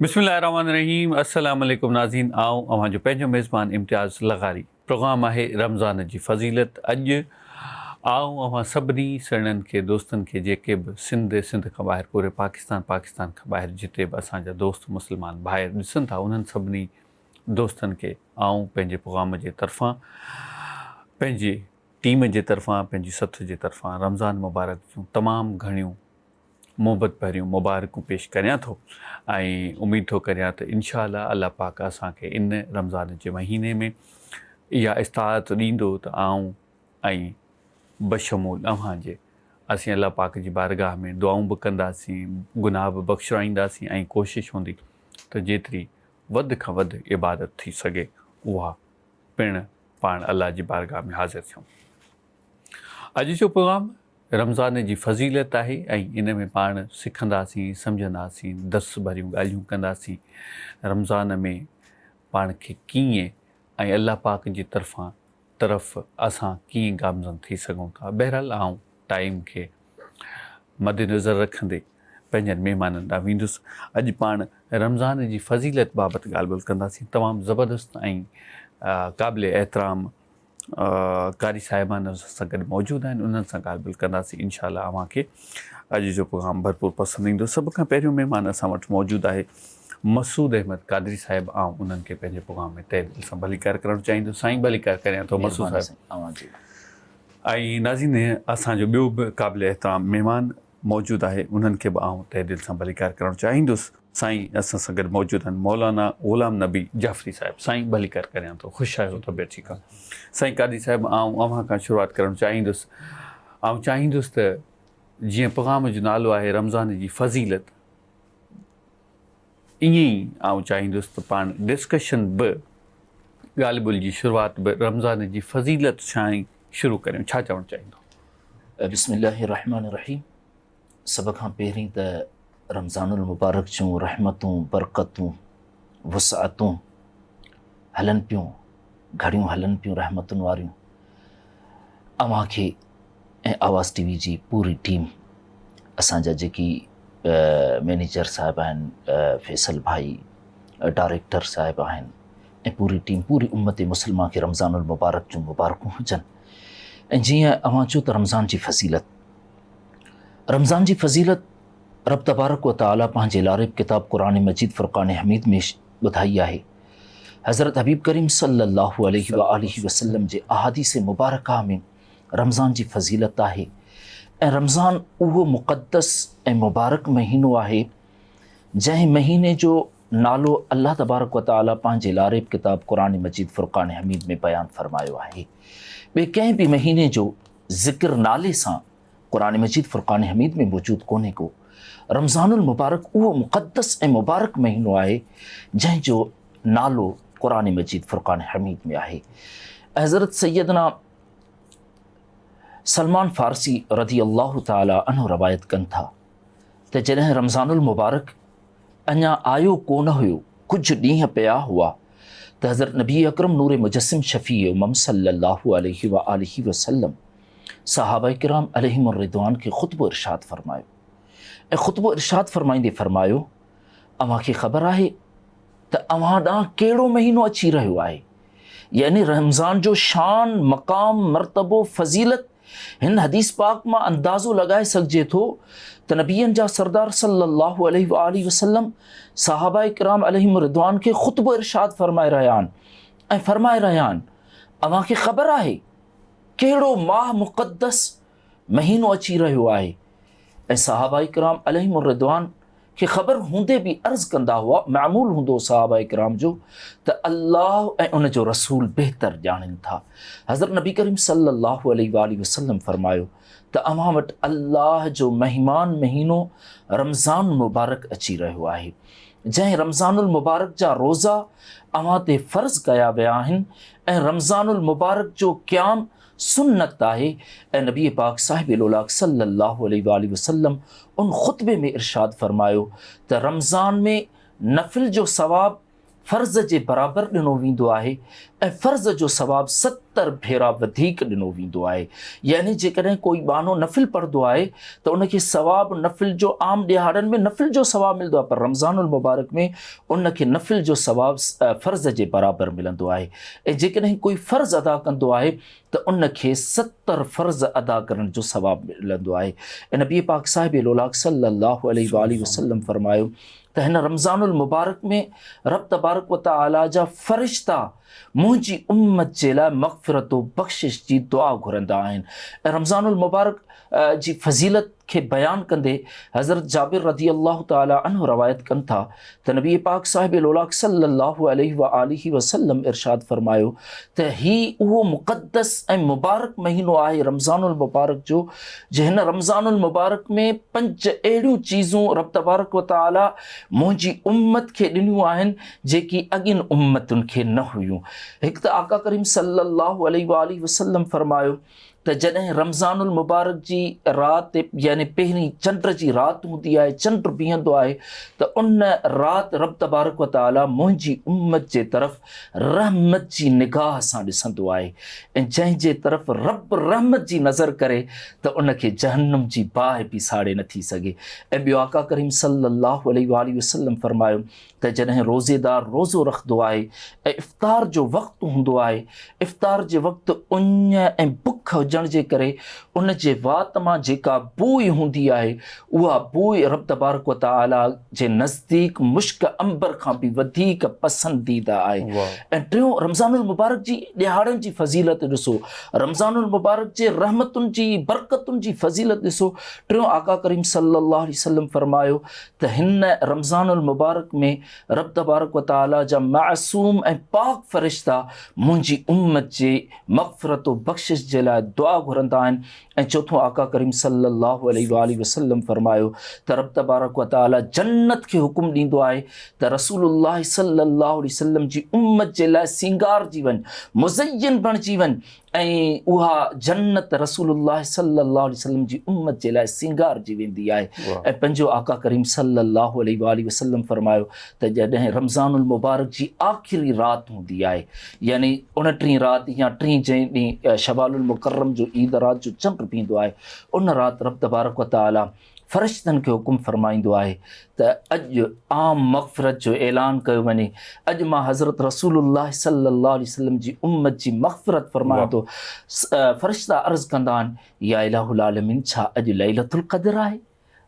بسم الله الرحمٰن الرحيم السلام عليڪم ناظرين آئون اوهان جو پنهنجو ميزبان امتياز لغاري پروگرام آهي رمضان جي فضيلت اڄ آئون اوهان سڀني سهڻن کي دوستن کي جيڪي به سنڌ سنڌ کان ٻاهر پوري پاڪستان پاڪستان کان ٻاهر جتي به اسان جا دوست مسلمان ڀائر ڏسن ٿا انهن سڀني دوستن کي آئون پنهنجي پغام جي طرفان پنهنجي ٽيم جي طرفان پنهنجي سٿ جي طرفان رمضان مبارڪ جون تمام گهڻيون محبت ڀريون مبارڪون پيش ڪريان ٿو ۽ اميد ٿو ڪريان ته انشاء الله الله پاڪ اسان کي ان رمضان جي مهيني ۾ اها استعاعت ڏيندو ته آئون ۽ بشمول اوهان جي اسين الله پاڪ جي بارگاهه ۾ دعائون به ڪنداسين گناهه به بخشرائينداسين ۽ ڪوشش هوندي ته جيتري وڌ کان وڌ عبادت ٿي سگهي اها پڻ پاڻ الله جي بارگاھ ۾ حاضر ٿيون. اڄ جو پروگرام رمضان جي فضيلت آهي ۽ ان ۾ پاڻ سکنداسين، سمجهنداسين، درس ڀريون ڳالهيون ڪنداسين، رمضان ۾ پاڻ کي ڪيئن ۽ الله پاڪ جي طرفان طرف اسان ڪيئن گامزن ٿي سگهون ٿا؟ بهرحال آئون ٽائيم کي مد نظر رکندي پنهنجن مهمانن ڏانهن ويندس. اڄ پاڻ رمضان جي فضيلت بابت ڳالهه ٻولهه ڪنداسين. تمام زبردست ۽ قابل احترام قاري صاحبان اسان سان گڏ موجود آهن انهن سان ڳالهه ٻولهه ڪنداسين انشاء الله اوهان کي اڄ جو پروگرام ڀرپور پسند ايندو. سڀ کان پهريون مهمان اسان وٽ موجود آهي مسعود احمد قادري صاحب آئون انهن کي پنهنجي پروگرام ۾ تهه دل سان ڀليڪار ڪرڻ چاهيندس سائين ڀليڪار ڪريان ٿو مسعود مھرباني صاحب سائين اوھان جي ۽ ناظرين اسان جو ٻيو به قابل احترام مھمان موجود آھي انهن کي به آئون تهه دل سان ڀليڪار ڪرڻ چاهيندس سائين اسان سان گڏ موجود آھن مولانا غلام نبي جعفري صاحب سائين ڀليڪار ڪريان ٿو خوش آھيو طبيعت ٺيڪ آ سائين قادري صاحب آئون اوھان کان شروعات ڪرڻ چاهيندس آئون چاهيندس ته جيئن پروگرام جو نالو آھي رمضان جي فضيلت ائين ئي آئون چاهيندس ته پاڻ ڊسڪشن به ڳالهه ٻولهه جي شروعات به رمضان جي فضيلت سان ئي شروع ڪريون ڇا چوڻ چاهيندو؟ بسم الله الرحمٰن الرحيم سڀ کان پهرين ته رمضان المبارڪ جون رحمتون، برڪتون وسعتون هلن پيون، گهڙيون هلن پيون رحمتن واريون. اوهان کي ۽ آواز ٽي وي جي پوري ٽيم اسان جا جيڪي مينيجر صاحب آهن فيصل ڀائي ڊائريڪٽر صاحب آهن ۽ پوري ٽيم پوري امت مسلمه کي رمضان المبارڪ جون مبارڪون هجن ۽ جيئن اوهان چيو ته رمضان جي فضيلت رمضان جي فضيلت رب تبارڪ و تعالي پنهنجي لاريب ڪتاب قرآن مجيد فرقان حميد ۾ ٻڌائي آهي. حضرت حبيب ڪريم صلّي الله عليه واٰله وسلّم جي احاديث مبارڪه ۾ رمضان جي فضيلت آهي ۽ رمضان اهو مقدّس ۽ مبارڪ مهينو آهي جنهن مهيني جو نالو الله تبارڪ و تعالي پنهنجي لاريب ڪتاب قرآن مجيد فرقان حميد ۾ بيان فرمايو آهي. ٻئي ڪنهن به مهيني جو ذڪر نالي سان قرآن مجيد فرقان حميد ۾ موجود ڪونهي ڪو. رمضان المبارڪ اهو مقدس ۽ مبارڪ مهينو آهي جنهن جو نالو قرآن مجيد فرقان حميد ۾ آهي. حضرت سيدنا سلمان فارسي رضي الله تعالي عنه روايت ڪن ٿا ته جڏهن رمضان المبارڪ اڃا آيو ڪونه هيو ڪجهه ڏينهن پيا هئا ته حضرت نبي اڪرم نور مجسم شفيع امم صلي الله عليه وآله وسلم صحابه ڪرام عليهم الرّضوان کي خطبو ارشاد فرمايو ۽ خطبو ارشاد فرمائيندي فرمايو، اوهان کي خبر آهي ته اوهان ڏانهن ڪهڙو مهينو اچي رهيو آهي؟ يعني رمضان جو شان، مقام، مرتبو، فضيلت هن حديث پاڪ مان اندازو لڳائي سگهجي ٿو ته نبين جا سردار صلّي الله عليه واٰله وسلّم صحابه ڪرام عليهم الرّضوان کي خطبو ارشاد فرمائي رهيا آهن ۽ فرمائي رهيا آهن، اوهان کي خبر آهي ڪهڙو ماه مقدس مهينو اچي رهيو آهي ۽ صحابه ڪرام عليهم الرضوان کي خبر هوندي به عرض ڪندا هئا معمول هوندو صحابه ڪرام جو ته الله ۽ ان جو رسول بهتر ڄاڻين ٿا حضرت نبي ڪريم صلي الله عليه واله وسلم فرمايو ته اوهان وٽ الله جو مهمان مهينو رمضان مبارڪ اچي رهيو آهي جنهن رمضان المبارڪ جا روزا اوهان تي فرض ڪيا ويا آهن ۽ رمضان المبارڪ جو قيام سنت آهي ۽ نبي پاڪ صاحب الاولاق صلي الله عليه واٰله وسلم ان خطبي ۾ ارشاد فرمايو ته رمضان ۾ نفل جو ثواب فرض جي برابر ڏنو ويندو آهي ۽ فرض جو ثواب ستر ڀيرا وڌيڪ ڏنو ويندو آهي. يعني جيڪڏهن ڪوئي ٻانهو نفل پڙهندو آهي ته ان کي ثواب نفل جو عام ڏهاڙن ۾ نفل جو ثواب ملندو آهي پر رمضان المبارڪ ۾ ان کي نفل جو ثواب فرض جي برابر ملندو آهي ۽ جيڪڏهن ڪوئي فرض ادا ڪندو آهي ته ان کي ستر فرض ادا ڪرڻ جو ثواب ملندو آهي ۽ نبي پاڪ صاحب لولاڪ صلّي الله عليه واٰله وسلّم فرمايو ته هن رمضان المبارڪ ۾ رب تبارڪ وتعالي جا فرشتا منهنجي امت جي لاء مغفرت و بخشش جي دعا گهرندا آهن ۽ رمضان المبارڪ جي فضيلت کي بيان ڪندي حضرت جابر رضي الله تعالي عنه روايت ڪن ٿا ته نبي پاڪ صاحب لولاڪ صلي الله عليه واله وسلم ارشاد فرمايو ته هي اهو مقدس ۽ مبارڪ مهينو آهي رمضان المبارڪ جو جي هن رمضان المبارڪ ۾ پنج اهڙيون چيزون رب تبارڪ و تعاليٰ منهنجي امت کي ڏنيون آهن جيڪي اڳين امتن کي نه هيون. هڪ ته آقا ڪريم صلّي اللّٰه عليه واٰله وسلّم فرمايو ته جڏهن رمضان المبارڪ جي رات يعني پهرين چنڊ جي رات هوندي آهي، چنڊ بيهندو آهي ته ان رات رب تبارڪ و تعاليٰ منهنجي امت جي طرف رحمت جي نگاهه سان ڏسندو آهي ۽ جنهن جي طرف رب رحمت جي نظر ڪري ته ان کي جهنم جي باهه به ساڙي نه ٿي سگهي ۽ ٻيو آقا ڪريم صلي الله عليه واٰله وسلم فرمايو ته جڏهن روزيدار روزو رکندو آهي ۽ افطار جو وقت هوندو آهي افطار جي وقت اڃ ۽ بک هجڻ جي ڪري ان جي وات مان جيڪا بوء هوندي آهي، اها بوء رب تبارڪ و تعاليٰ جي نزديڪ مشڪ عنبر کان به وڌيڪ پسنديده آهي. ۽ ٽيون، رمضان المبارڪ جي ڏهاڙن جي فضيلت ڏسو، رمضان المبارڪ جي رحمتن جي، برڪتن جي فضيلت ڏسو، ٽيون آقا ڪريم صلّي اللّٰه عليه وسلّم فرمايو ته هن، رمضان المبارڪ، ۾ رب تبارڪ و تعاليٰ جا معصوم ۽ پاڪ فرشتا منهنجي امّت جي مغفرت و بخشش جي لاء دعا گهرندا آهن ۽ چوٿون آقا ڪريم صلي الله عليه واٰله وسلم فرمايو ته رب تبارڪ و تعالي جنت کي حڪم ڏيندو آهي ته رسول الله صلي الله عليه وسلم جي امت جي لاء سينگارجي وڃ مزين بڻجي وڃ ۽ اها جنت رسول الله صلي الله عليه وسلم جي امت جي لاء سينگارجي ويندي آهي ۽ پنهنجو آقا ڪريم صلي الله عليه واٰله وسلم فرمايو ته جڏهن رمضان المبارڪ جي آخري رات هوندي آهي يعني ان ٽين رات يا ٽين جنهن ڏينهن شوال المڪرم جو عيد رات جو چنڊ ڊڀيندو آهي ان رات رب تبارڪ وتعاليٰ فرشتن کي حڪم فرمائيندو آهي ته اڄ عام مغفرت جو اعلان ڪيو وڃي اڄ مان حضرت رسول الله صلي الله عليه وسلم جي امت جي مغفرت فرمايان ٿو فرشتا عرض ڪندا آهن يا الٰه العالمين ڇا اڄ ليلة القدر آهي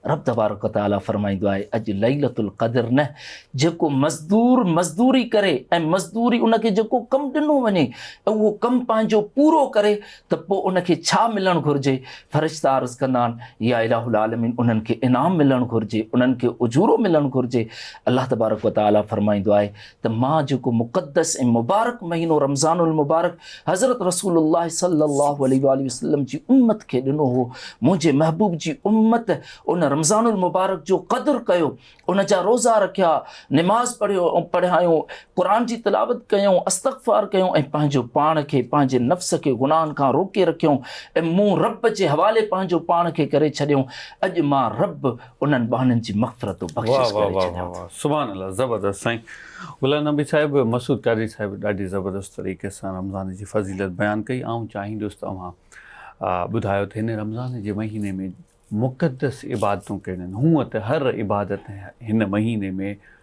رب تبارڪ و تعاليٰ فرمائيندو آهي اڄ ليلة القدر نه جيڪو مزدور مزدوري ڪري ۽ مزدوري ان کي جيڪو ڪم ڏنو وڃي اهو ڪم پنهنجو پورو ڪري ته پوء ان کي ڇا ملڻ گهرجي فرشتا عرض ڪندا آهن يا الٰه العالمين انهن کي انعام ملڻ گهرجي انهن کي اجورو ملڻ گهرجي الله تبارڪ و تعاليٰ فرمائيندو آهي ته مان جيڪو مقدس ۽ مبارڪ مهينو رمضان المبارڪ حضرت رسول الله صلي الله عليه واٰله وسلم جي امت کي ڏنو هو، منهنجي محبوب جي امت ان رمضان المبارڪ جو قدر ڪيو، ان جا روزا رکيا، نماز پڙهيو پڙهايون، قرآن جي تلاوت ڪيائون، استغفار ڪيائون ۽ پنهنجو پاڻ کي، پنهنجي نفس کي گناهن کان روڪي رکيائون ۽ مون رب جي حوالي پنهنجو پاڻ کي ڪري ڇڏيائون، اڄ مان رب، انهن ٻانهن جي مغفرت و بخشش ڪري ڇڏيان ٿو. واه واه واه سبحان الله زبردست سائين غلام نبي صاحب مسعود قادري صاحب ڏاڍي زبردست طريقي سان رمضان جي فضيلت بيان ڪئي آئون چاهيندس ته اوهان ٻڌايو ته هن رمضان جي مهيني ۾ مقدس عبادتون ڪهڙين هونئن ته هر عبادت هن مهيني ۾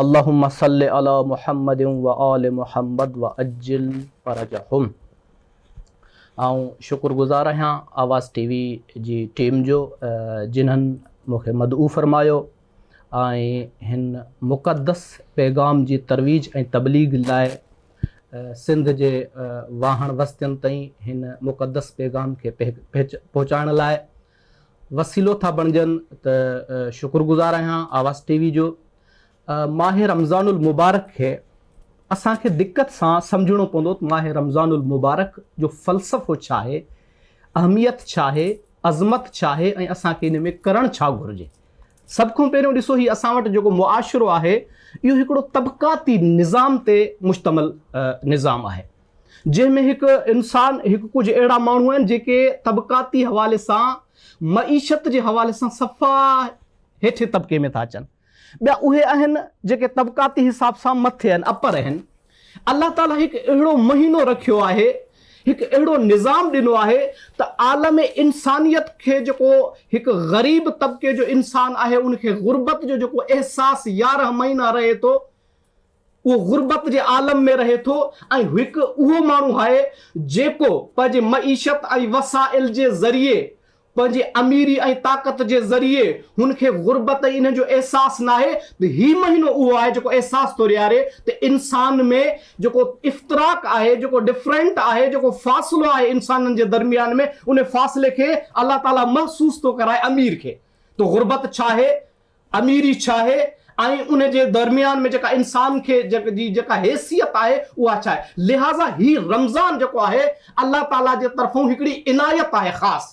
اللهم صل علی محمد وآل محمد وعجل فرجهم آئون شڪر گذار آهيان آواز ٽي وي جي ٽيم جو جنھن مون کي مدعو فرمايو ۽ هن مقدس پيغام جي ترويج ۽ تبليغ لاء سنڌ جي واهڻ وستين تائين هن مقدس پيغام کي پهچائڻ لاء وسيلو ٿا بڻجن ته شڪر گذار آهيان آواز ٽي وي جو ماهه رمضان المبارڪ کي اسان کي دقت سان سمجهڻو پوندو ته ماهه رمضان المبارڪ جو فلسفو ڇا آهي اهميت ڇا آهي عظمت ڇا آهي ۽ اسان کي ان ۾ ڪرڻ ڇا گهرجي سڀ کان پهريون ڏسو هي اسان وٽ جيڪو معاشرو آهي اهو هڪڙو طبقاتي نظام تي مشتمل نظام آهي جنهن ۾ هڪ انسان هڪ ڪجهه اهڙا ماڻهو آهن جيڪي طبقاتي حوالي سان معيشت جي حوالي سان صفا هيٺين طبقي ۾ ٿا اچن ٻيا اهي آهن جيڪي طبقاتي حساب سان مٿي آهن اپر آهن الله تعالي هڪ اهڙو مهينو رکيو آهي هڪ اهڙو نظام ڏنو آهي ته عالم انسانيت کي جيڪو هڪ غريب طبقي جو انسان آهي ان کي غربت جو جيڪو احساس يارهن مهينا رهي ٿو اهو غربت جي عالم ۾ رهي ٿو ۽ هڪ اهو ماڻهو آهي جيڪو پنهنجي معيشت ۽ وسائل جي ذريعي پنهنجي اميري ۽ طاقت جي ذريعي هن کي غربت ۽ انهن جو احساس ناهي ته هي مهينو اهو آهي جيڪو احساس ٿو ڏياري ته انسان ۾ جيڪو افتراق آهي جيڪو ڊفرنٽ آهي جيڪو فاصلو آهي انسانن جي درميان ۾ ان فاصلي کي الله تعالي محسوس ٿو ڪرائي امير کي ته غربت ڇا آهي اميري ڇا آهي ۽ ان جي درميان ۾ جيڪا انسان کي جي جيڪا حيثيت آهي اها ڇا آهي لهٰذا هي رمضان جيڪو آهي الله تعاليٰ جي طرفون هڪڙي عنايت آهي خاص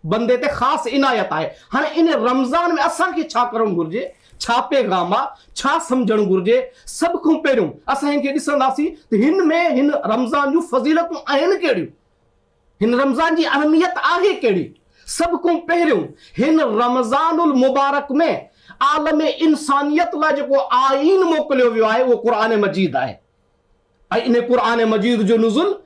بندي تي خاص عنايت آهي هاڻي ان رمضان ۾ اسان کي ڇا ڪرڻ گهرجي ڇا پيغام آ ڇا سمجهڻ گهرجي سڀ کون پهريون اسان هن کي ڏسنداسين ته هن ۾ هن رمضان جون فضيلتون آهن ڪهڙيون هن رمضان جي اهميت آهي ڪهڙي؟ سڀ کون پهريون هن رمضان المبارڪ ۾ عالم انسانيت لاء جيڪو آئين موڪليو ويو آهي اهو قرآن مجيد آهي ۽ ان قرآن مجيد جو نزل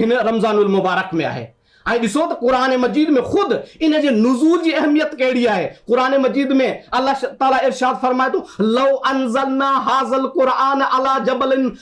هن رمضان المبارڪ ۾ آهي ۽ ڏسو ته قرآن مجيد ۾ خود ان جي نزول جي اهميت ڪهڙي آهي قرآن مجيد ۾ الله تعالي ارشاد فرمائي ٿو لو انزلنا هذا القرآن علي جبل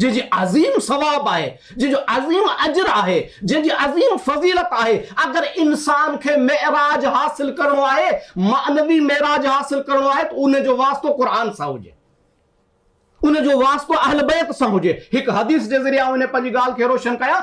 جنهن جي عظيم ثواب آهي، جنهن جو عظيم اجر آهي، جنهن جي عظيم فضيلت آهي، اگر انسان کي معراج حاصل ڪرڻو آهي، معنوي معراج حاصل ڪرڻو آهي ته ان جو واسطو قرآن سان هجي، ان جو واسطو اهل بيت سان هجي، هڪ حديث جي ذريعي آئون هن پنهنجي ڳالهه کي روشن ڪيان.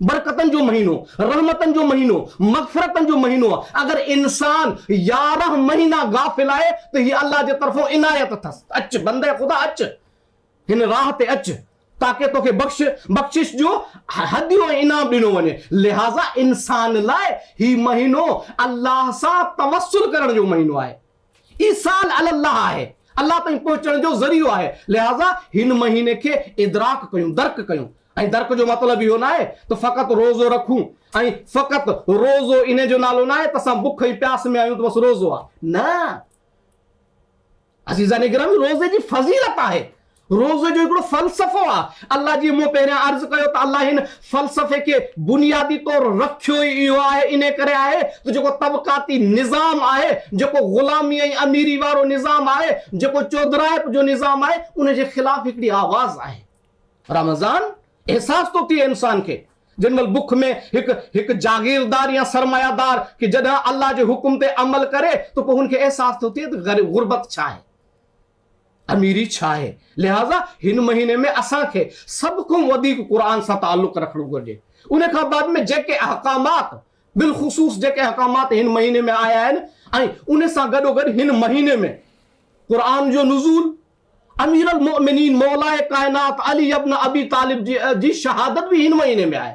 برڪتن جو مهينو، رحمتن جو مهينو، مغفرتن جو مهينو آهي، اگر انسان يارهن مهينا غافل آهي ته هي الله جي طرفون عنايت اٿس، اچ بندي خدا اچ هن راهه تي اچ تاڪه توکي بخش بخشش جو هديو ۽ انعام ڏنو وڃي، لهٰذا انسان لاء هي مهينو الله سان توسل ڪرڻ جو مهينو آهي. ايصال علي الله آهي، الله تائين پهچڻ جو ذريعو آهي، لهٰذا هن مهيني کي ادراڪ ڪيون، درڪ ڪيون ۽ درڪ جو مطلب اهو ناهي ته فقط روزو رکون ۽ فقط روزو انهي جو نالو ناهي ته اسان بک ۽ پياس ۾ آهيون ته بس روزو آهي نه عزيزان گرامي روزي جي فضيلت آهي. روزي جو هڪڙو فلسفو آ. الله جيئن مون پهريان عرض ڪيو ته الله هن فلسفي کي بنيادي طور رکيو ئي اهو آهي انهي ڪري آهي ته جيڪو طبقاتي نظام آهي جيڪو غلامي ۽ اميري وارو نظام آهي جيڪو چوڌرائپ جو نظام آهي ان جي خلاف هڪڙي آواز آهي. رمضان احساس ٿو ٿئي انسان کي جنهن مهل بک ۾ هڪ هڪ جاگيردار يا سرمايه دار کي جڏهن الله جي حڪم تي عمل ڪري ته پوء هن کي احساس ٿو ٿئي ته غربت ڇا آهي. اميري ڇا آهي؟ لهٰذا هن مهيني ۾ اسان کي سڀ کان وڌيڪ قرآن سان تعلق رکڻو گهرجي. ان کان بعد ۾ جيڪي احڪامات، بالخصوص جيڪي احڪامات هن مهيني ۾ آيا آهن ۽ ان سان گڏوگڏ هن مهيني ۾ قرآن جو نزول، اميرالمؤمنين مولائي ڪائنات علي ابن ابي طالب جي شهادت به هن مهيني ۾ آهي.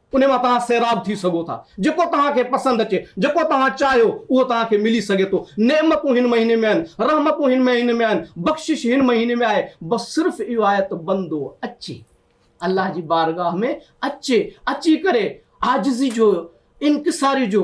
ان مان توهان سيراب ٿي سگهو ٿا. جيڪو توهان کي پسند اچي، جيڪو توهان چاهيو، اهو توهان کي ملي سگهي ٿو. نعمتون هن مهيني ۾ آهن، رحمتون هن مهيني ۾ آهن، بخشش هن مهيني ۾ آهي. بس صرف اهو آهي ته بندو اچي، الله جي بارگاهه ۾ اچي، اچي ڪري عاجزي جو، انڪساري جو،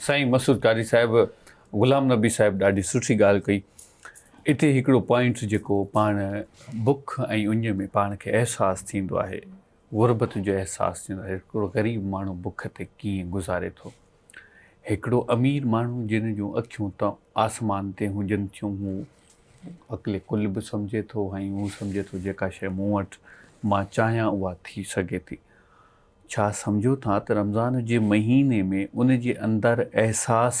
سائين مسعود قاري صاحب غلام نبي صاحب ڏاڍي سٺي ڳالهه ڪئي اتي هڪڙو پوائنٽ جيڪو پاڻ بک ۽ اڃ ۾ پاڻ کي احساس ٿيندو آهي غربت جو احساس ٿيندو آهي هڪڙو غريب ماڻهو بک تي ڪيئن گذاري ٿو هڪڙو امير ماڻهو جن جون اکيون ته آسمان تي هجن ٿيون هو عقل ڪل به سمجهي ٿو ۽ هو سمجهي ٿو جيڪا شيء مون وٽ مان چاهيان اها ٿي سگهي ٿي ڇا سمجهو ٿا ته رمضان جي مهيني ۾ ان جي اندر احساس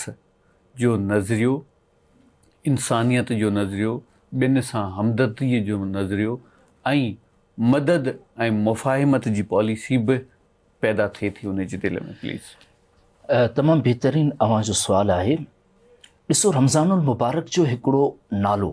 جو نظريو، انسانيت جو نظريو، ٻين سان همدرديء جو نظريو ۽ مدد ۽ مفاهمت جي پاليسي به پيدا ٿئي ٿي ان جي دل ۾ پليز. تمام بهترين اوهان جو سوال آهي ڏسو رمضان المبارڪ جو هڪڙو نالو.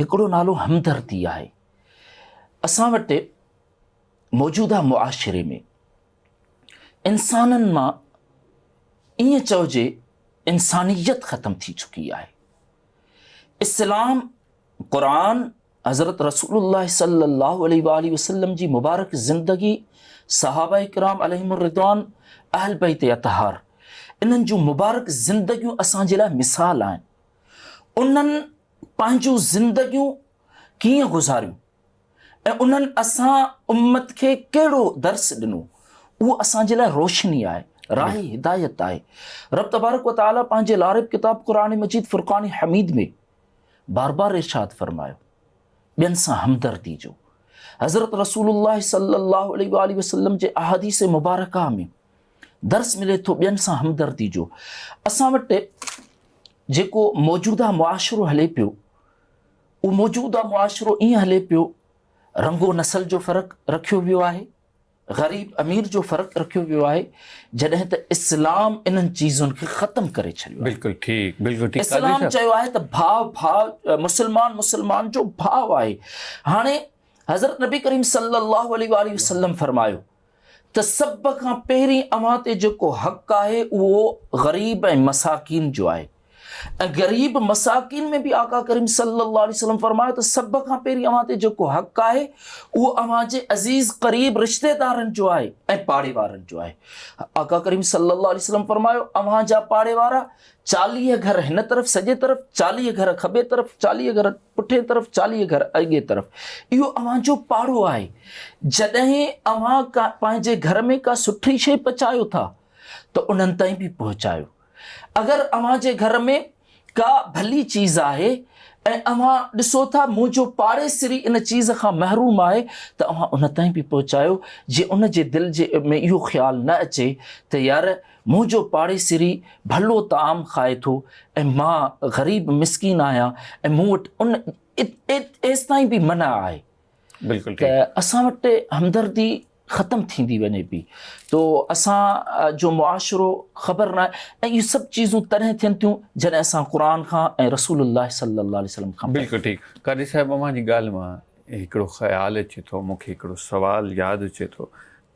هڪڙو نالو همدردي آهي. اسان وٽ موجوده معاشري ۾ انسانن مان ائين چئجي انسانيت ختم ٿي چڪي آهي. اسلام، قرآن، حضرت رسول الله صلي الله عليه واٰله وسلم جي مبارڪ زندگي، صحابه ڪرام عليهم الرضوان، اهل بيت اطهار، انهن جون مبارڪ زندگيون اسان جي لاء مثال آهن. انهن پنهنجون زندگيون ڪيئن گذاريون ۽ انهن اسان امت کي ڪهڙو درس ڏنو اهو اسان جي لاء روشني آهي، راهه هدايت آهي. رب تبارڪ و تعاليٰ پنهنجي لارب ڪتاب قرآن مجيد فرقان حميد ۾ بار بار ارشاد فرمايو، ٻين سان همدردي جو حضرت رسول الله صلي الله عليه وآله وسلم جي احاديث مبارڪه ۾ درس ملي ٿو ٻين سان همدردي جو. اسان وٽ جيڪو موجوده معاشرو هلي پيو، اهو موجوده معاشرو ائين هلي پيو، رنگ و نسل جو فرق رکيو ويو آهي، غريب امير جو فرق رکيو ويو آهي، جڏهن ته اسلام انهن چيزن کي ختم ڪري ڇڏيو آهي. بلڪل ٺيڪ بلڪل ٺيڪ قاضي صاحب. اسلام چيو آهي ته ڀاء ڀاء مسلمان مسلمان جو ڀاء آهي. هاڻي حضرت نبي ڪريم صلي الله عليه واٰله وسلم فرمايو ته سڀ کان پهرين اوهان تي جيڪو حق آهي اهو غريب ۽ مساڪين جو آهي ۽ غريب مساڪين ۾ به آقا ڪريم صلي الله عليه وسلم فرمايو ته سڀ کان پهرين اوهان تي جيڪو حق آهي اهو اوهان جي عزيز قريب رشتيدارن جو آهي ۽ پاڙيوارن جو آهي آقا ڪريم صلي الله عليه وسلم فرمايو اوهان جا پاڙيوارا چاليهه گهر هن طرف سڄي طرف چاليهه گهر کٻي طرف چاليهه گهر پٺئين طرف چاليهه گهر اڳئين طرف اهو اوهان جو پاڙو آهي جڏهن اوهان ڪا پنهنجي گهر ۾ ڪا سٺي شيء پچايو ٿا ته انهن تائين به پهچايو اگر اوهان جي گهر ۾ ڪا ڀلي چيز آهي ۽ اوهان ڏسو ٿا منهنجو پاڙيسري ان چيز کان محروم آهي ته اوهان ان تائين به پهچايو جي ان جي دل جي ۾ اهو خيال نه اچي ته يار منهنجو پاڙيسري ڀلو طعام کائي ٿو ۽ مان غريب مسڪين آهيان ۽ مون وٽ ان ايستائين به منع آهي ته اسان وٽ همدردي ختم ٿيندي وڃي پئي تو اسان جو معاشرو خبر نه آهي ۽ اهي سڀ چيزون تڏهن ٿين ٿيون جڏهن اسان قرآن کان ۽ رسول الله صلي الله عليه وسلم کان بلڪل ٺيڪ قاري صاحب اوهان جي ڳالهه مان هڪڙو خيال اچي ٿو مون کي هڪڙو سوال ياد اچي ٿو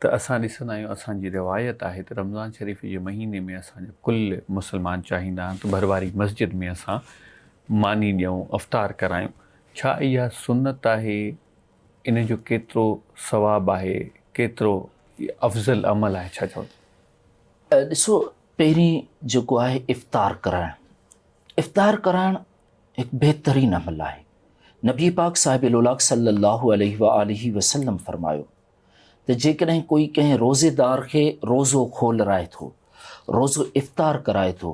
ته اسان ڏسندا آهيون اسان جي روايت آهي ته رمضان شريف جي مهيني ۾ اسان جا ڪل مسلمان چاهيندا آهن ته ڀر واري مسجد ۾ اسان ماني ڏيون افطار ڪرايون ڇا اها سنت آهي ان جو ڪيترو ثواب آهي ڪيترو افضل عمل آهي ڇا چوندو. ڏسو پهرين جيڪو آهي افطار ڪرائڻ افطار ڪرائڻ هڪ بهترين عمل آهي نبي پاڪ صاحب لولاڪ صلّي اللّٰه عليه واٰله وسلّم فرمايو. ته جيڪڏهن ڪوئي ڪنهن روزيدار کي روزو کولرائي ٿو، روزو افطار ڪرائي ٿو،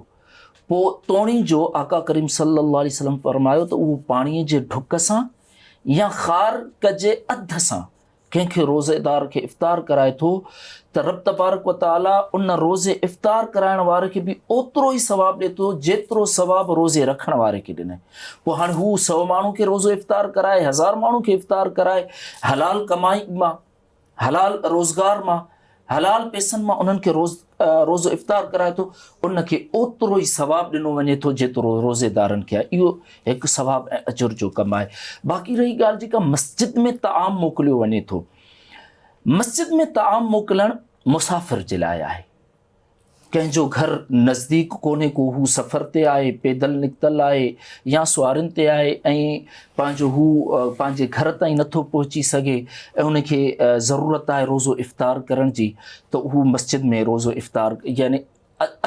پوء توڻي جو آقا ڪريم صلي الله عليه وسلم فرمايو ته اهو پاڻيء جي ڍڪ سان يا خارڪ جي اڌ سان ڪنهن کي روزيدار کي افطار ڪرائي ٿو ته رب تبارڪ وتعاليٰ ان روزي افطار ڪرائڻ واري کي به اوترو ئي ثواب ڏئي ٿو جيترو ثواب روزي رکڻ واري کي ڏنائين. پوء هاڻي هو سؤ ماڻهن کي روزو افطار ڪرائي هزار ماڻهن کي افطار ڪرائي حلال ڪمائي مان حلال روزگار مان حلال پيسن مان انهن کي روز روزو افطار ڪرائي ٿو ان کي اوترو ئي ثواب ڏنو وڃي ٿو جيترو روزيدارن کي آهي اهو هڪ ثواب ۽ اجر جو ڪم آهي باقي رهي ڳالهه جيڪا مسجد ۾ تعام موڪليو وڃي ٿو مسجد ۾ تعام موڪلڻ مسافر جي لاء آهي ڪنهن جو گهر نزديڪ ڪونهي ڪو هو سفر تي آهي پيدل نڪتل آهي يا سوارين تي آهي ۽ پنهنجو هو پنهنجي گهر تائين نٿو پهچي سگهي ۽ ان کي ضرورت آهي روزو افطار ڪرڻ جي ته هو مسجد ۾ روزو افطار يعني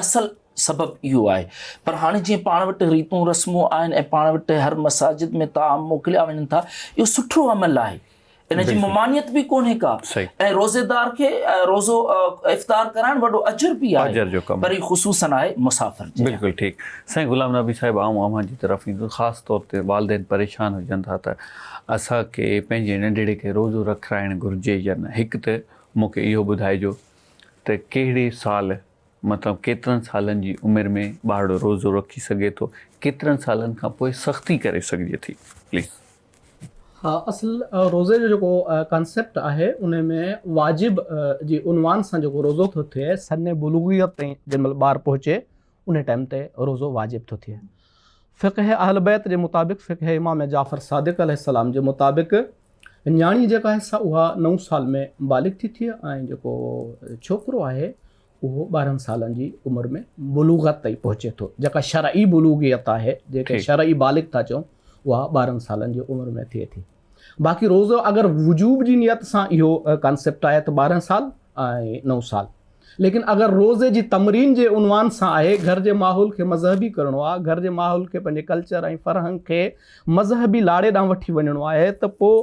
اصل سبب اهو آهي پر هاڻي جيئن پاڻ وٽ ريتون رسمون آهن ۽ پاڻ وٽ هر مساجد ۾ تعام موڪليا وڃن ٿا اهو سٺو عمل آهي ان جي ممانعت به ڪونهي ڪا ۽ روزيدار کي روزو افطار ڪرائڻ وڏو اجر به آهي پر هي خصوصن آهي مسافر جي بلڪل ٺيڪ سائين غلام نبي صاحب آئون اوهان جي طرف ايندس خاص طور تي والدين پريشان هجن ٿا ته اسان کي پنهنجي ننڍڙي کي روزو رکرائڻ گهرجي يا نه هڪ ته مون کي اهو ٻڌائجو ته ڪهڙي سال مطلب ڪيترن سالن جي عمر ۾ ٻارڙو روزو رکي سگهي ٿو ڪيترن سالن کان پوء سختي ڪري سگهجي ٿي پليز. اصل روزي جو جيڪو ڪانسيپٽ آهي ان ۾ واجب جي عنوان سان جيڪو روزو ٿو ٿئي سن بلوغيت تائين جنهن مهل ٻار پهچي ان ٽائيم تي روزو واجب ٿو ٿئي فقه اهل بيت جي مطابق فقه امام جعفر صادق عليه السلام جي مطابق نياڻي جيڪا آهي سا اها نو سال ۾ بالغ ٿي ٿئي ۽ جيڪو ڇوڪرو آهي اهو ٻارهن سالن جي عمر ۾ بلوغت تائين پهچي ٿو، جيڪا شرعي بلوغيت آهي، جنهن کي شرعي بالغ ٿا چئون، اها ٻارهن سالن جي عمر ۾ ٿئي ٿي. باقي روزو اگر وجوب جي نيت سان اهو ڪانسيپٽ آهي ته ٻارهن سال ۽ نو سال. ليڪن اگر روزي جي تمرين جي عنوان سان آهي، گهر جي ماحول کي مذهبي ڪرڻو آهي، گهر جي ماحول کي پنهنجي ڪلچر ۽ فرهنگ کي مذهبي لاڙي ڏانهن وٺي وڃڻو آهي ته پوء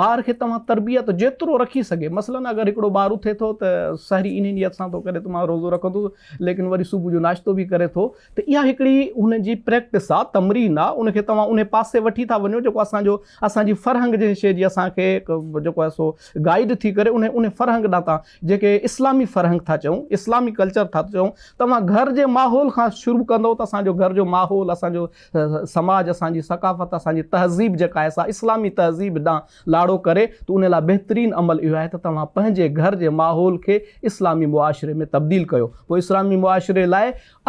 ٻار کي توهان تربيت جيترو رکي سگهي مثلاً اگر هڪڙو ٻار اٿي ٿو ته سحري انهي نيت سان ٿو ڪري ته مان روزو رکندس ليڪن وري صبح جو ناشتو به ڪري ٿو ته اها هڪڙي هن جي پريڪٽس آ تمرين آ ان کي توهان انهي پاسي وٺي ٿا وڃو جيڪو اسان جو اسان جي فرهنگ جنهن شيء جي اسان کي جيڪو آهي سو گائيڊ ٿي ڪري انهي انهي فرهنگ ڏانهن تان جنهن کي اسلامي فرهنگ ٿا چئون اسلامي ڪلچر ٿا چئون توهان گهر جي ماحول کان شروع ڪندو ته اسان جو گهر جو ماحول اسان جو سماج اسان جي ثقافت اسان جي تهذيب جيڪا آهي سا اسلامي تهذيب ڏانهن لاڙو ڪري ته ان لاء بهترين عمل اهو آهي ته توهان پنهنجي گهر جي ماحول کي اسلامي معاشري ۾ تبديل ڪيو پوء اسلامي معاشري لاء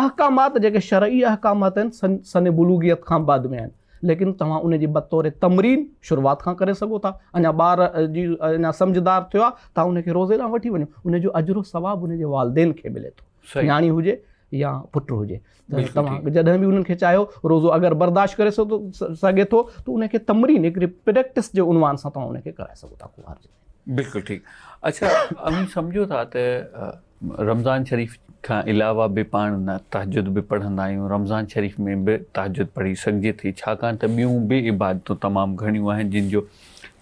احڪامات جيڪي شرعي احڪامات آهن سن سن بلوغيت کان بعد ۾ آهن ليڪن توهان ان جي بطور تمرين شروعات کان ڪري سگهو ٿا اڃا ٻار جي اڃا سمجهدار ٿيو آهي توهان ان کي روزي ڏانهن وٺي وڃو ان جو اجر و ثواب ان جي والدين کي ملي ٿو نياڻي هجي يا پٽ هجي توهان جڏهن به انهن کي چاهيو روزو اگر برداشت ڪري سگهي ٿو ته ان کي تمرين هڪڙي پريڪٽس جي عنوان سان توهان ان کي ڪرائي سگهو ٿا ڪنوار جي بلڪل ٺيڪ اڇا اوهين سمجهو ٿا ته رمضان شريف کان علاوه به پاڻ تهجد به پڙهندا آهيون رمضان شريف ۾ به تهجد پڙهي سگهجي ٿي ڇاڪاڻ ته ٻيون به عبادتون تمام گهڻيون آهن جن جو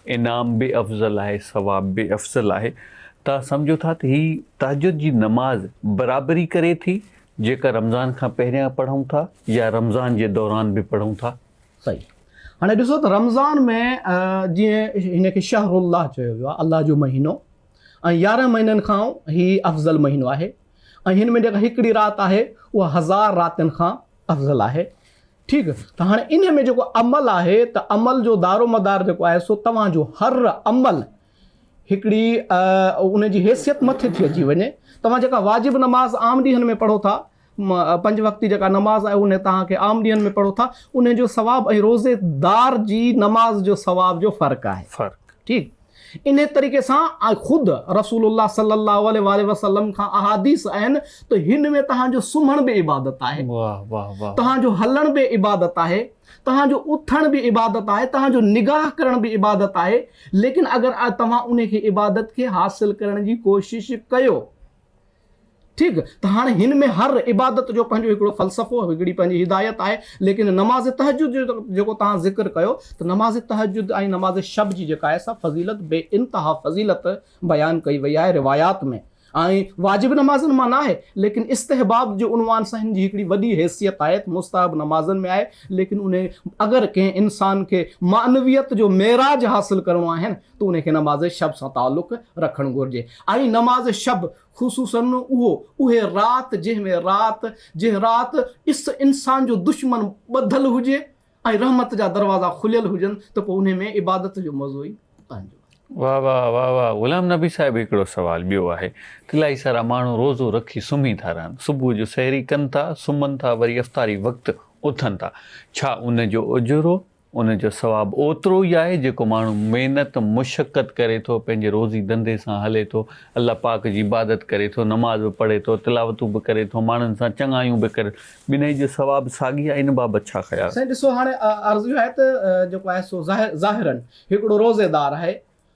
انعام به افضل آهي ثواب به افضل آهي تان سمجهو ٿا ته هي تهجد جي نماز برابري ڪري ٿي جيڪا رمضان کان پهريان پڙهون ٿا يا رمضان جي دوران به پڙهون ٿا. صحيح هاڻي ڏسو ته رمضان ۾ جيئن هن کي شهر الله چيو ويو آهي الله جو مهينو ۽ يارهن مهينن کان هي افضل مهينو آهي ۽ هن ۾ جيڪا هڪڙي رات آهي اها هزار راتين کان افضل آهي ٺيڪ ته هاڻي انهي ۾ جيڪو عمل آهي ته عمل جو دارومدار جيڪو آهي سو توهان جو هر عمل هڪڙي ان جي حيثيت مٿي ٿي اچي وڃي توهان جيڪا واجب نماز عام ڏينهن ۾ پڙهو ٿا پنج وقتي جيڪا نماز آهي ان توهان کي عام ڏينهن ۾ پڙهو ٿا ان جو ثواب ۽ روزي دار جي نماز جو ثواب جو فرق آهي فرق ٺيڪ انهيء طريقي سان خود رسول الله صلّي الله عليه واٰله وسلّم کان احاديث آهن ته هن ۾ توهان جو سمهڻ به عبادت آهي، توهان جو هلڻ به عبادت آهي، توهان جو اٿڻ به عبادت آهي، توهان جو نگاهه ڪرڻ به عبادت آهي، ليڪن اگر توهان انهيء کي عبادت کي حاصل ڪرڻ جي ڪوشش ڪيو. ٺيڪ ته هاڻي هن ۾ هر عبادت جو پنهنجو هڪڙو فلسفو هڪڙي پنهنجي هدايت آهي ليڪن نماز تهجد جو جيڪو توهان ذڪر ڪيو ته نماز تهجد ۽ نماز شب جي جيڪا آهي سا فضيلت بي انتها فضيلت بيان ڪئي وئي آهي روايات ۾ ۽ واجب نمازن مان ناهي ليڪن استحباب جي عنوان سان هن جي هڪڙي وڏي حيثيت آهي ته مستحب نمازن ۾ آهي ليڪن انهي اگر ڪنهن انسان کي معنويت جو معراج حاصل ڪرڻو آهي نه تون کي نماز شب سان تعلق رکڻ گهرجي ۽ نماز شب خصوصاً اهو اهي رات جنهن ۾ رات جنهن رات ڏس انسان جو دشمن ٻڌل هجي ۽ رحمت جا دروازا کليل هجن ته پوء انهي ۾ عبادت جو مزو ئي پنهنجو آهي. واه واه واه واه غلام نبي صاحب هڪڙو سوال ٻيو آهي ته الائي سارا ماڻهو روزو رکي سمهي ٿا رهن صبح جو سحري ڪن ٿا سمهن ٿا وري افطاري وقت اٿن ٿا ڇا ان جو اجرو ان جو ثواب اوترو ئي آهي جيڪو ماڻهو محنت مشقت ڪري ٿو پنهنجي روزي ڌنڌي سان هلي ٿو الله پاڪ جي عبادت ڪري ٿو نماز به پڙهي ٿو تلاوتون به ڪري ٿو ماڻهن سان چڱايون به ڪري ٻنهي جو ثواب ساڳي آهي ان بابت ڇا خيال. سائين ڏسو هاڻي عرض اهو آهي ته جيڪو آهي سو ظاهراً هڪڙو روزي دار آهي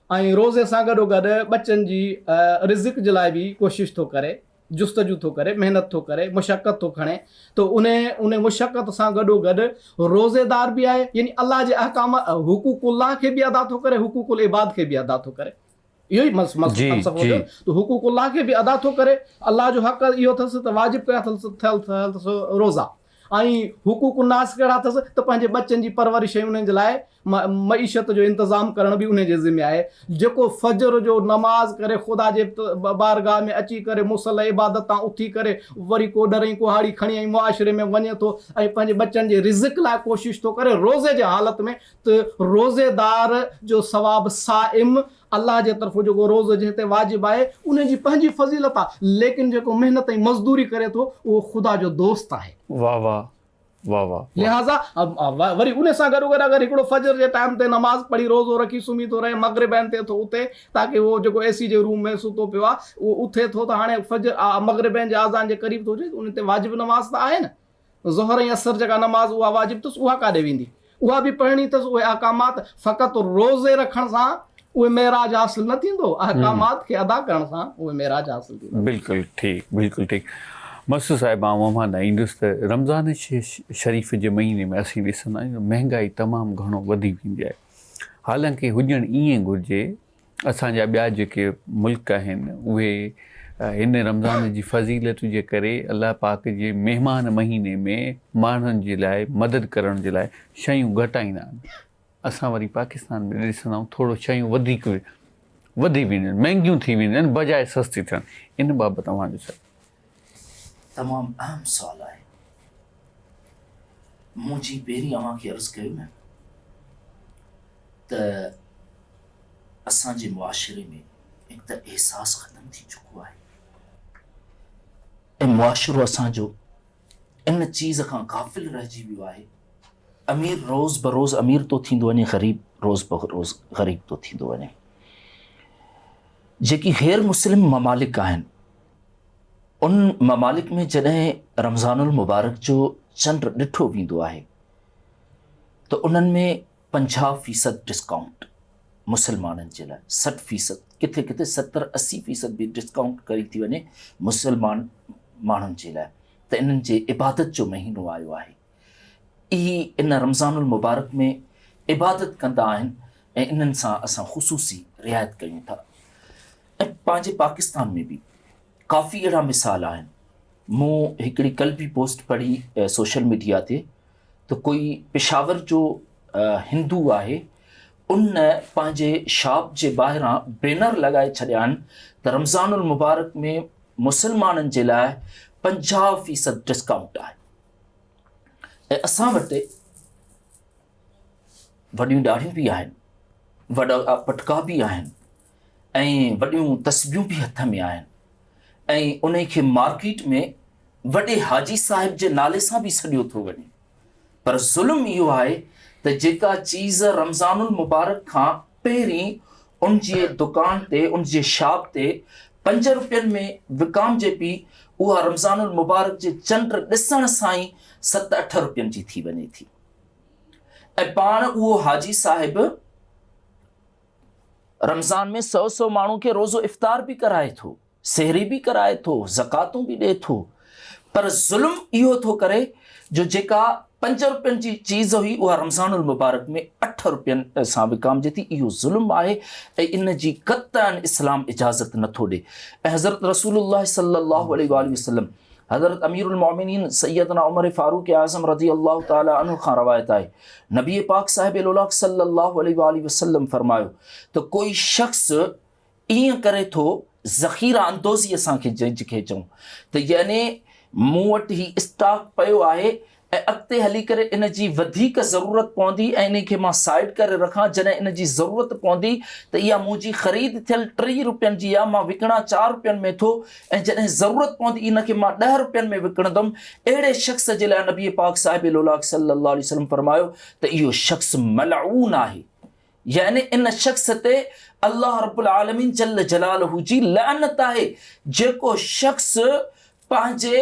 ۽ روزي سان گڏوگڏ ٻچن جي رزق جي لاء به ڪوشش ٿو ڪري جستجو ٿو ڪري، محنت ٿو ڪري، مشقت ٿو کڻي ته ان ان مشقت سان گڏوگڏ روزيدار به آهي يعني الله جي احڪام حقوق الله کي به ادا ٿو ڪري حقوق العباد کي به ادا ٿو ڪري اهو ئي فلسفو ته حقوق الله کي به ادا ٿو ڪري الله جو حق اهو اٿس ته واجب ڪيا اٿس روزا ۽ حقوق الناس ڪهڙا اٿس ته پنهنجي ٻچن جي پرورش ۽ انهن جي لاء معيشت جو انتظام ڪرڻ به انهي جي ذمي آهي. جيڪو فجر جو نماز ڪري خدا جي بارگاهه ۾ اچي ڪري مصلي عبادت تان اٿي ڪري وري ڪوڏر ۽ ڪهاڙي کڻي ۽ معاشري ۾ وڃي ٿو ۽ پنهنجي ٻچن جي رزق لاء ڪوشش ٿو ڪري روزي جي حالت ۾ ته روزيدار جو ثواب صائم الله جي طرفون جيڪو روزو جنهن تي واجب آهي ان جي پنهنجي فضيلت آهي ليڪن جيڪو محنت ۽ مزدوري ڪري ٿو اهو خدا جو دوست آهي. واھ واھ واھ واھ واھ. لهٰذا وري ان سان گڏو گڏ اگر هڪڙو فجر جي ٽائيم تي نماز پڙهي روزو رکي سمهي ٿو رهي مغرب عين تي ٿو اٿي تاڪه اهو جيڪو اي سي جي روم ۾ ستو پيو آهي اهو اٿي ٿو ته هاڻي فجر مغرب عين جي آذان جي قريب ٿو هجي ان تي واجب نماز ته آهي نه ظهر ۽ عصر جيڪا نماز اها واجب تس اها ڪاڏي ويندي؟ اها به پڙهڻي تس اهي احڪامات فقط روزي رکڻ سان اهي معراج حاصل نه ٿيندو احڪامات کي ادا ڪرڻ سان اهي معراج حاصل ٿيندو. بلڪل ٺيڪ بلڪل ٺيڪ مس صاحب آئون اوهان ڏانهن ايندس ته رمضان شريف جي مهيني ۾ اسين ڏسندا آهيون ته مهنگائي تمام گهڻو وڌي ويندي آهي حالانڪه هجڻ ائين گهرجي اسان جا ٻيا جيڪي ملڪ آهن اهي هن رمضان جي فضيلت جي ڪري الله پاڪ جي مهمان مهيني ۾ ماڻهن جي لاء مدد ڪرڻ جي لاء شيون گهٽائيندا آهن اسان وري پاڪستان ۾ ڏسندا آهيون ٿورو شيون وڌيڪ وڌي وينديون آهن مهنگيون ٿي وينديون آهن بجاء سستي ٿيڻ ان بابت اوهان جو ڇا؟ تمام اهم سوال آهي. مون جي پهرين اوهان کي عرض ڪيو نه ته اسان جي معاشري ۾ هڪ ته احساس ختم ٿي چڪو آهي ۽ معاشرو اسان جو ان چيز کان غافل رهجي ويو آهي امير روز بروز امير ٿو ٿيندو وڃي غريب روز بروز غريب ٿو ٿيندو وڃي جيڪي غير مسلم ممالڪ آهن ان ممالڪ ۾ جڏهن رمضان المبارڪ جو چنڊ ڏٺو ويندو آهي ته انهن ۾ پنجاهه فيصد ڊسڪائونٽ مسلمانن جي لاء سٺ فيصد ڪٿي ڪٿي ستر اسي فيصد به ڊسڪائونٽ ڪري ٿي وڃي مسلمان ماڻهن جي لاء ته انهن جي عبادت جو مهينو آيو آهي اهي ان رمضان المبارڪ ۾ عبادت ڪندا آهن ۽ انهن سان اسان خصوصي رعايت ڪيون ٿا ۽ پنهنجي پاڪستان ۾ به ڪافي اهڙا مثال آهن مون هڪڙي ڪل به پوسٽ پڙهي سوشل ميڊيا تي ته ڪوئي پشاور جو هندو آهي ان پنهنجي شاپ جي ٻاهران بينر لڳائي ڇڏيا آهن ته رمضان المبارڪ ۾ مسلمانن جي لاء پنجاهه فيصد ڊسڪائونٽ آهي ۽ اسان وٽ وڏيون ڏاڙهيون به آهن وڏا پٽڪا به آهن ۽ وڏيون تسبيون به هٿ ۾ آهن ۽ ان کي مارڪيٽ ۾ وڏي حاجي صاحب جي نالي سان به سڏيو ٿو وڃي پر ظلم اهو آهي ته جيڪا چيز رمضان المبارڪ کان پهرين ان جي دڪان تي، ان جي شاپ تي پنج روپين ۾ وڪامجي پي، اها رمضان المبارڪ جي چنڊ ڏسڻ سان ئي ست اٺ روپين جي ٿي وڃي ٿي ۽ پاڻ اهو حاجي صاحب رمضان ۾ سؤ سؤ ماڻهن کي روزو افطار به ڪرائي ٿو. سحري به ڪرائي ٿو، زڪواتون به ڏئي ٿو، پر ظلم اهو ٿو ڪري جو جيڪا پنج روپين جي چيز هئي اها رمضان المبارڪ ۾ اٺ روپين سان وڪامجي ٿي، اهو ظلم آهي ۽ ان جي قطعا اسلام اجازت نه ٿو ڏي ۽ حضرت رسول الله صلي الله عليه واٰله وسلم حضرت امير المؤمنين سيدنا عمر فاروق اعظم رضي الله تعالٰي عنه کان روايت آهي نبي پاڪ صاحب لولاڪ صلي الله عليه واٰله وسلم فرمايو ته ڪوئي شخص ائين ڪري ٿو ذخيره اندوزي اسان کي جنهن کي چئون ته يعني مون وٽ هي اسٽاڪ پيو آهي ۽ اڳتي هلي ڪري ان جي وڌيڪ ضرورت پوندي ۽ انهي کي مان سائيڊ ڪري رکان جڏهن ان جي ضرورت پوندي ته اها منهنجي خريد ٿيل ٽي رپين جي آهي مان وڪڻان چار رپين ۾ ٿو ۽ جڏهن ضرورت پوندي ان کي مان ڏهه رپين ۾ وڪڻندم اهڙي شخص جي لاء نبي پاڪ صاحب لولاڪ صلي الله عليه وسلم فرمايو ته اهو شخص ملعون آهي يعني ان شخص تي الله رب العالمين جل جلاله جي لعنت آهي جيڪو شخص پنهنجي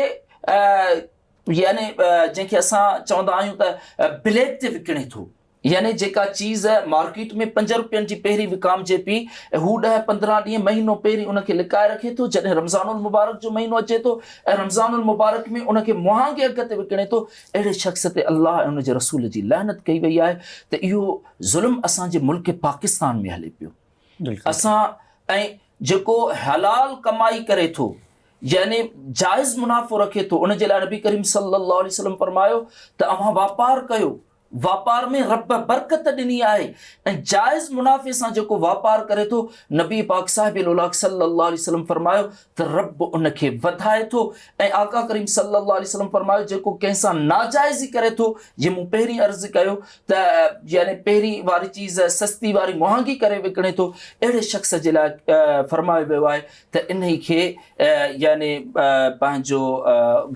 يعني جنهن کي اسان چوندا آهيون ته بليڪ تي وڪڻي ٿو يعني جيڪا چيز مارڪيٽ ۾ پنج روپين جي پهرين وڪامجي پي هو ڏهه پندرهن ڏينهن مهينو پهرين ان کي لڪائي رکي ٿو جڏهن رمضان المبارڪ جو مهينو اچي ٿو ۽ رمضان المبارڪ ۾ ان کي مهانگي اگهه تي وڪڻي ٿو اهڙي شخص تي الله ۽ ان جي رسول جي لعنت ڪئي وئي آهي ته اهو ظلم اسان جي ملڪ پاڪستان ۾ هلي پيو اسان ۽ جيڪو حلال ڪمائي ڪري ٿو يعني جائز منافعو رکي ٿو ان جي لاء نبي ڪريم صلي الله عليه وسلم فرمايو ته اوهان واپار ڪيو واپار ۾ رب برڪت ڏني آهي ۽ جائز منافعي سان جيڪو واپار ڪري ٿو نبي پاڪ صاحب الاخ صلي الله عليه وسلم فرمايو ته رب ان کي وڌائي ٿو ۽ آقا ڪريم صلي الله عليه وسلم فرمايو جيڪو ڪنهن سان ناجائزي ڪري ٿو جي مون پهرين عرض ڪيو ته يعني پهرين واري چيز سستي واري مهانگي ڪري وڪڻي ٿو اهڙي شخص جي لاء فرمايو ويو آهي ته انهي کي يعني پنهنجو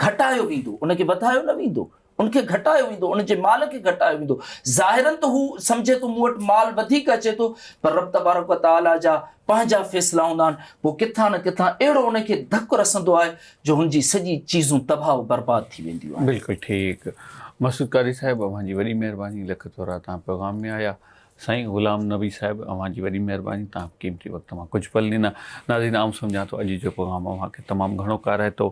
گهٽايو ويندو ان کي وڌايو نه ويندو ان کي گهٽايو ويندو، ان جي مال کي گهٽايو ويندو. ظاهراً ته هو سمجهي ٿو مون وٽ مال وڌيڪ اچي ٿو، پر رب تبارڪ و تعاليٰ جا پنهنجا فيصلا هوندا آهن، پوء ڪٿان نه ڪٿان اهڙو ان کي ڌڪ رسندو آهي جو هن جي سڄي چيزون تباهه و برباد ٿي وينديون آهن. بلڪل ٺيڪ مسعود قاري صاحب اوهان جي وڏي مهرباني لک ٿورا توهان پيغام ۾ آيا سائين غلام نبي صاحب اوهان جي وڏي مهرباني توهان قيمتي وقت مان ڪجهه پل ڏنا ناظرين آئون سمجهان ٿو اڄ جو پيغام اوهان کي تمام گهڻو ڪارائتو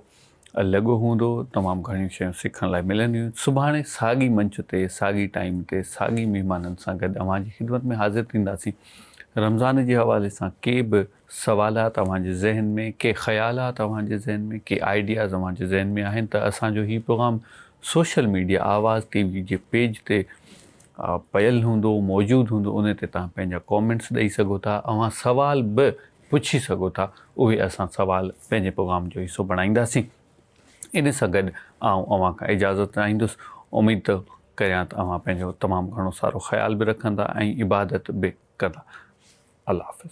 لڳو هوندو تمام گهڻيون شيون سکڻ لاء ملنديون سڀاڻي ساڳي منچ تي ساڳي ٽائيم تي ساڳي مهمانن سان گڏ اوهان جي خدمت ۾ حاضر ٿينداسين رمضان جي حوالي سان ڪي به سوالات اوهان جي ذهن ۾ ڪي خيالات اوهان جي ذهن ۾ ڪي آئيڊياز اوهان جي ذهن ۾ آهن ته اسان جو هي program social media Awaz TV جي پيج تي پيل هوندو موجود هوندو ان تي توهان پنهنجا ڪامينٽس ڏئي سگهو ٿا اوهان سوال به پڇي سگهو ٿا اهي اسان سوال پنهنجي پغام جو حصو بڻائينداسين ان سان گڏ آئون اوهان کان اجازت چاهيندس اميد ته ڪريان ته اوهان پنهنجو تمام گهڻو سارو خيال به رکندا ۽ عبادت به ڪندا الله حافظ.